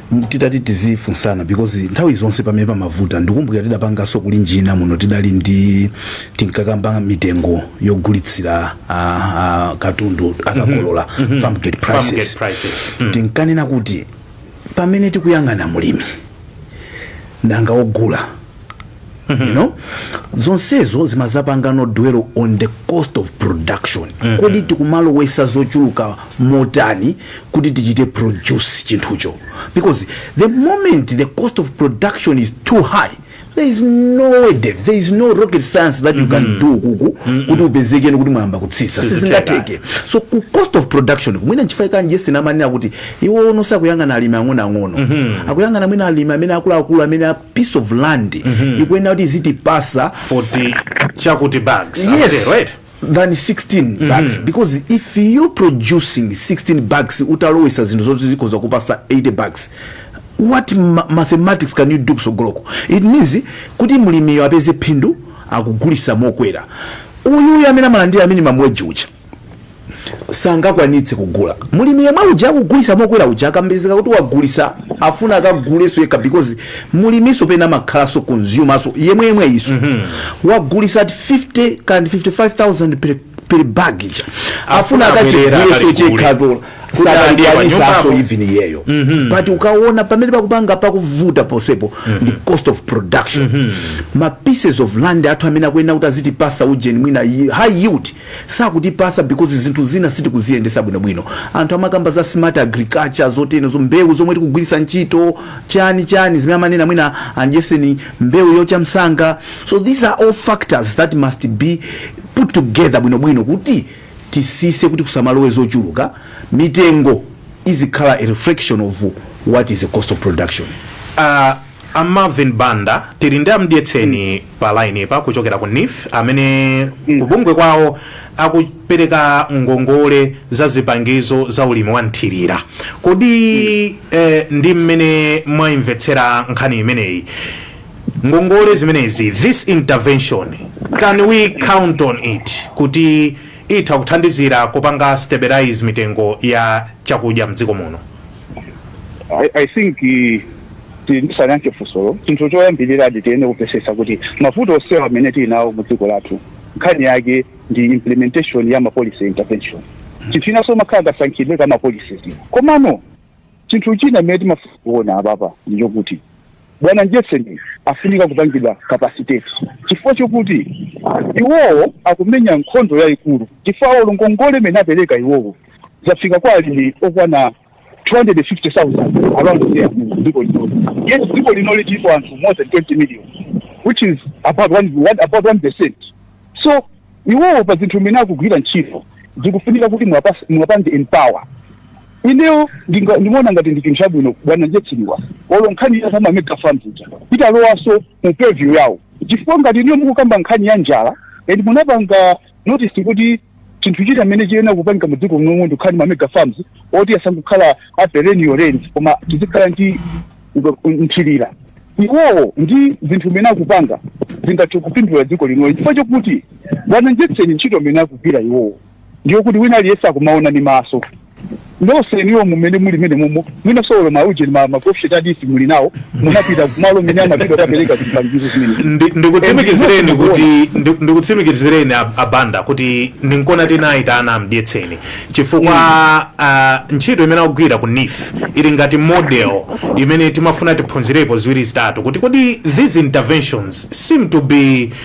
M- titati tizifunsana because nthawi zonse pamene pamavuta ndikumbukira tidapanganso Kulinji muno tidali ndi tinkakamba mitengo yogulitsira ah, ah, katundu akakolola farm gate Farm gate prices prices. Mm. timkanena kuti pamene tikuyang'ana mulimi nanga ogula you know zonsezo zimazapangano dwell on the cost of production kodi tikumalowesa zochuluka motani kuti tichite produce chinthucho because the moment the cost of production is too high there is no way Dave, there is no rocket science that you can do kuku kuti upezekeni kuti mwayamba kutsitsa Sizitheka. sizingateke so ku cost of production kumwina nchifukwa a Mdyetseni amanena kuti iwowo sakuyang'ana alimi ang'onoang'ono akuyang'ana mwina alimi amene akuluakulu amene piece of land ikuyenera kuti izitipasa 40 chakuti bags yes akutero, right? than 16 bags because if you producing 16 bags utalowesa zinthu zoti zikhoza kukupasa 80 bags what ma mathematics can you do kusogoloko it means kuti mlimiyo apeze phindu akugulisa mokwera uyuyu amene amalandira minimum wage uja sangakwanitse kugula mulimi yemwe uja akugulisa mokwera uja akapezeka kuti wagulisa afuna akaguleso yekha because mulimiso pena amakhalaso consumer so yemwe yemwe iso wagulisa at 50 and 55000 per, per bag ija afuna Afuna bwerera akachiguleso akaligule. chekha tola Kuti adye pa nyumbapo. sakakwanisaso even iyeyo but ukaona pamene pakupanga pakuvuta ponsepo ndi cost of production ma pieces of land athu amene akuyenera kuti azitipasa ujeni mwina yi- high yield sakutipasa because zinthu zina sitikuziyendesa bwino bwino anthu amakamba za smart agriculture zoteno zo mbewu zomwe tikugwirisa ntchito chani chani zimene amanena mwina a Mdyetseni mbewu yocha msanga so these are all factors that must be put together bwino bwino kuti tisise kuti kusamalowe zochuluka mitengo izikhala a reflection of what is the cost of production uh, A Marvin Banda tili ndi a Mdyetseni pa line-pa kuchokera ku NEEF amene kubungwe kwawo akupereka ngongole za zipangizo za ulimi wa mthirira. Kodi eh, ndi mmene mwayimvetsera nkhani imeneyi? Ngongole zimenezi this intervention can we count on it kuti itha kuthandizira kupanga stabilize mitengo ya chakudya mdziko muno? I, I think eh, ti- tisayankhe funsolo chinthu choyambirirachi tiyenera kupesesa kuti mavuto onsewa amene tili nawo mu dziko lathu nkhani yake ndi implementation ya mapolicy intervention chinthu chinanso chimakhala kasankhidwe ka mapolicies komano chinthu china amene timafuna kuona apapa ndi chokuti bwana jefferson afunika kupangidwa kapasiteti chifukwa chokuti iwowo akumenya nkhondo yayikulu chifukwa olo ngongole imene apereka iwowo zafika kwa alimi okwana 250,000 around there mu dziko lino yet dziko lino lilipo anthu more than 20 million which is about one, one, about 1 percent so iwowo pa zinthu zimene akugwira ntchito zikufunika kuti muwapas- muwapange empower ineyo ndinga- ndimaona ngati ndi chinthu chabwino bwana njetsiriwa olo nkhani ya za ma mega farms ija kuti alowaso mu purview yawo chifukwa ngati ineyo mukukamba nkhani ya njala and munapanga notice kuti chinthu china chimene chiyenera kupangika mu dziko munomu ndikukhala ndi mamega farms oti asangokhala a perennial rains koma tizikhala ndi mthirira iwowo ndi zinthu zimene akupanga zingathe kupindula dziko linoyi chifukwa chokuti bwana jetseni ntchito imene akugwira iwowo ndi yokuti wina aliyense akumaona ndi maso nonse inuyo mumene muli mene mumo mwina olo mauje ma makofishet adisi muli nawo munapita kumalo mene amapita kapereka zipangizo zimene Ndi- ndikutsimikizireni kuti ndi- ndikutsimikizireni a- abanda kuti ndinkona tinayitana a Mdyetseni chifukwa ah, ntchito imene akugwira ku nif ili ngati model imene timafuna tiphunzirepo ziwiri zitatu kuti kodi these interventions seem to be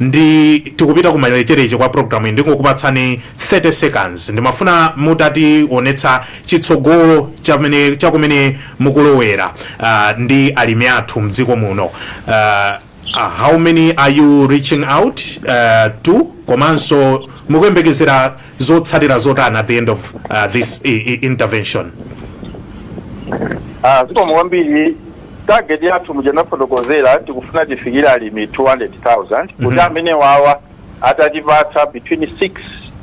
ndi tikupita kumalecheleche kwa program ndingokupatsani 30 seconds ndimafuna mutationetsa chitsogolo chamene chakumene mukulowera uh, ndi alimi athu mdziko muno uh, uh, how many are you reaching out uh, to komanso mukuyembekezera zotsatira zotani at the end of uh, this i- i- intervention Ah, zikomo kwambiri Target yathu muja ndafotokozera tikufuna tifikire alimi 200,000 kuti amenewawa atatipatsa between 6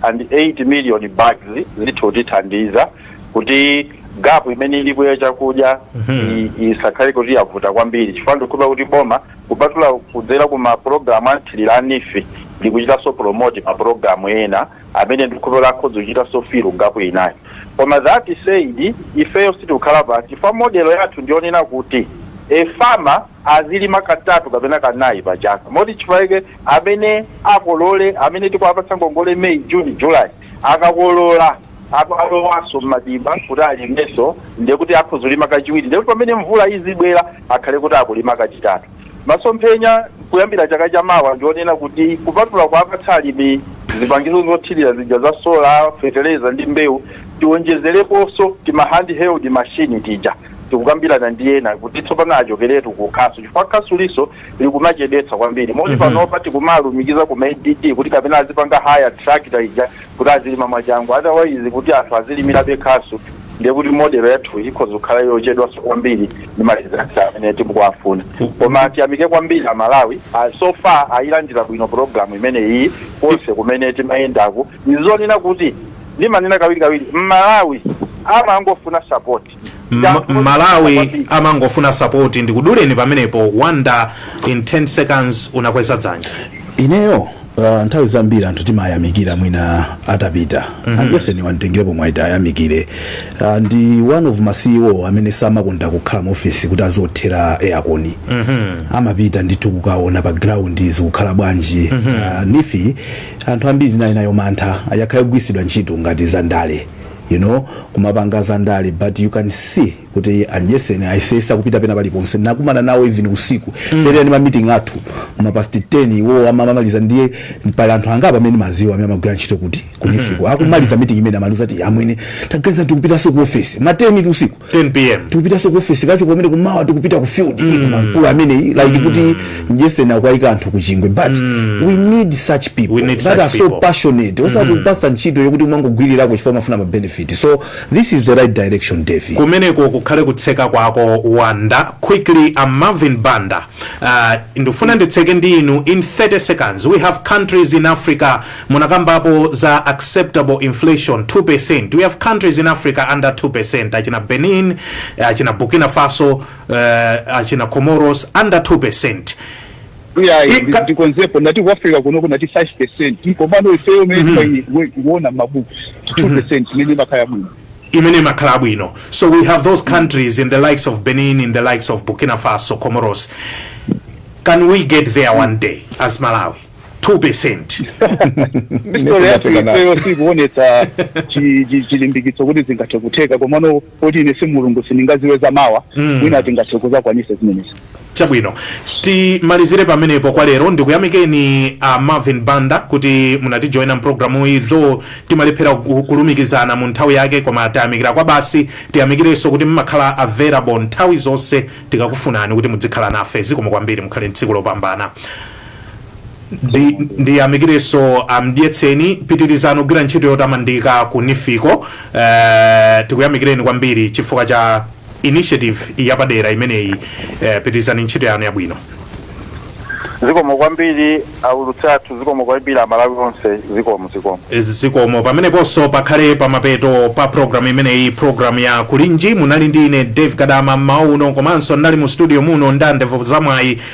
and 8 million bags zitha kutithandiza kuti gap imene ilipo ya chakudya i- isakhale kuti yavuta kwambiri chifukwa ndikukhulupirira kuti boma kupatula kudzera ku mapulogalamu a mthirira a nifi likuchitanso promote mapulogalamu ena amene ndikukhulupirira akhoza kuchitanso fill gap inayi koma that said ifeyo sitikukhala pansi chifukwa model yathu ndiyonena kuti mafarmer azilima katatu kapena kanayi pa chaka moti chifukwa chake amene akolole amene tikuwapatsa ngongole may june july akakolola alowanso mmadimba kuti alimenso ndiye kuti akhoza kulima kachiwiri ndiye kuti pamene mvula izibwera akhale kuti akulima kachitatu Masomphenya kuyambira chaka cha mawa ndi onena kuti kupatula kuwapatsa alimi zipangizo zothirira zija za sola, fetereza ndi mbewu, tiwonjezereponso tima hand-held machine tija. Tikukambirana ndi ena kuti tsopano achokeretu ku khasu chifukwa khasulinso likumachedwetsa kwambiri moti panopa tikumalumikiza ku ma ADD kuti kapena azipanga hire tractor ija kuti azilima mwachangu otherwise kuti anthu azilimirabe khasu ndiye kuti model yathu ikhoza kukhala yochedwanso kwambiri ndi ma results amene tikuwafuna koma tiyamike kwambiri amalawi Ah, so far ayilandira bwino program imeneyi konse kumene timayendaku ndizonena kuti ndimanena kawirikawiri mmalawi amangofuna support M- malawi amangofuna sapoti ndikuduleni pamenepo wanda in 10 seconds unakweza dzanja ineyo uh, nthawi zambiri anthu timayamikira mwina atapita mm -hmm. a Njeseni wa nditengerepo mwayi tiwayamikire uh, ndi one of ma ceo amene samakonda kukhala mu ofesi kuti aziothera aircon mm -hmm. amapita ndithu kukaona pa ground zikukhala bwanji mm -hmm. uh, NEEF anthu ambiri tinali nayo mantha ayakhale kugwiritsidwa ntchito ngati za ndale you know kumapanga za ndale but you can see kuti a Njeseni ayesesa kupita pena paliponse nakumana nawo even usiku mm. tinali ndi ma meeting athu ma past 10 iwo amamaliza ndiye pali anthu angapo amene ndimaziwa amene amagwira ntchito kuti ku NEEF-ko akumaliza meeting imene amatiuza kuti amwene tagaza tikupitanso ku office ma 10 usiku usiku 10 pm tikupitanso ku office kacho komene kumawa tikupita ku field mm. mankulu amene like mm. kuti Njeseni akuwaika anthu kuchingwe but mm. we need such people we need that such are people. so passionate osa mm. kupasa ntchito yokuti umangogwirirako chifukwa mafuna ma benefit so this is the right direction Davy kumeneko kukhale kutseka kwako wanda quickly a marvin banda uh, ndifuna nditseke ndi inu in 30 seconds we have countries in africa Munakambapo za acceptable inflation 2%. We have countries in Africa under 2%. Achina Benin, achina Burkina Faso, uh, achina Comoros under 2%. iyayi Ika- ndi- ndikonzepo ndati ku africa kuno ndinati 5 percent komano ifeyo mmene tikuona mabuku 2 percent imene imakhala bwino imene imakhala bwino so we have those countries in the likes of benin in the likes of burkina faso comoros can we get there one day as malawi 2% History yathu Mesonaseka ifeyo sikuonetsa chi- chi- chilimbikitso kuti zingathe kutheka komano poti ine si mulungu sindingadziwe za mawa mwina tingathe kuzakwanisa zimenezo chabwino timalizire pamenepo kwa lero ndikuyamikeni a marvin banda kuti munatijoyina mpulogalamu iyi though timalephera ku- kulumikizana mu nthawi yake koma tayamikira kwa basi tiyamikirenso kuti mumakhala available nthawi zonse tikakufunani kuti mudzikhala nafe zikomo kwambiri mukhale mtsiku lopambana ndiyamikirenso amdyetseni pitirizani kugwira ntchito yotamandika ku nifiko uh, tikuyamikireni kwambiri chifukwa cha initiative yapadera imeneyi uh, pitirizani ntchito yanu yabwino zikomo kwambiri aulutsi athu zikomo kwambiri amalawi onse zikomo zikomo zikomo pameneponso pakhale pamapeto pa programu imeneyi programu ya kulinji munali ndi ine dave kadama mmawu uno komanso ndinali mu studio muno ndi a ndevu zamwayi